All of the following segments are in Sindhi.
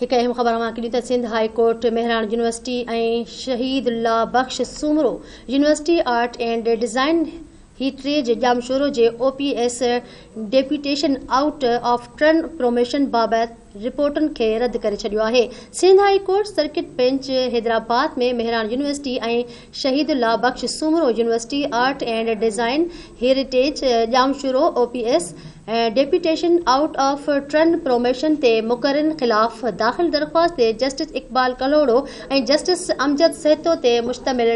هڪ اهم خبر اوهان کي ڏيون ته Sindh high court Mehran university ۽ Shaheed Allah Bux Soomro university art and design هيٽريج ڄامشورو جي O P S deputation out of turn promotion بابت رپورٽن کي رد ڪري ڇڏيو آهي Sindh high court circuit bench Hyderabad ۾ Mehran university ۽ Shaheed Allah Bux Soomro university art and design heritage Jamshoro O P S deputation out of turn promotion تي مقررين خلاف داخل درخواست تي جسٽس اقبال ڪلهوڙو ۽ جسٽس امجد سهتو تي مشتمل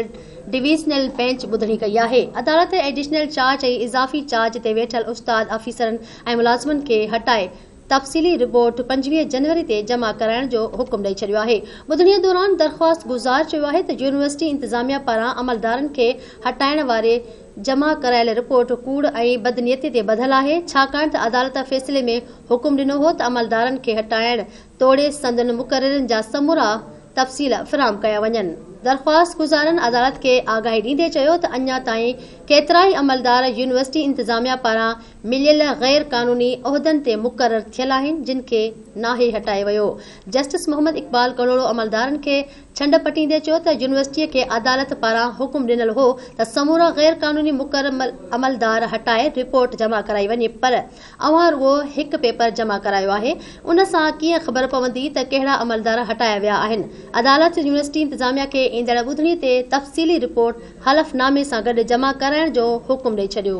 ڊويزنل بينچ ٻڌڻي ڪئي آهي عدالت ايڊيشنل چارج ۽ اضافي چارج تي ويٺل استاد آفيسرن ۽ ملازمن کي هٽائي تفصيلي رپورٽ پنجويهه جنوري تي جمع ڪرائڻ جو حڪم ڏئي ڇڏيو آهي. ٻڌڻي دوران درخواست گذار چيو آهي ته يونيورسٽي انتظاميا پاران عملدارن کي هٽائڻ واري جمع ڪرايل رپورٽ ڪوڙ ۽ بدنيتي تي ٻڌل آهي، ڇاڪاڻ ته عدالت فيصلي ۾ حڪم ڏنو هو ته عملدارن کي هٽائڻ توڙي سندن مقررين جا سمورا تفصيل فراهم ڪيا وڃن. درخواست گذارن عدالت کي آگاهي ڏيندي چيو ته اڃا تائين ڪيترائي عملدار يونيورسٽي انتظاميا پاران مليل غير قانوني عهدن تي مقرر ٿيل آهن جن کي ناهي هٽايو ويو. جسٽس محمد اقبال ڪلهوڙو عملدارن کي ڇنڊ پٽيندي چيو ته يونيورسٽي کي عدالت پاران حڪم ڏنل هو ته سمورا غير قانوني مقرر عملدار هٽائي رپورٽ جمع ڪرائي وڃي پر اوهان رڳو هڪ پيپر جمع ڪرايو آهي ان سان ڪيئن خبر پوندي ته ڪهڙا عملدار هٽايا ويا آهن. عدالت يونيورسٽي انتظاميا کي ايندڙ ٻڌڻي تي تفصيلي رپورٽ حلف نامي سان گڏ جمع ڪرائڻ جو حڪم ڏئي ڇڏيو.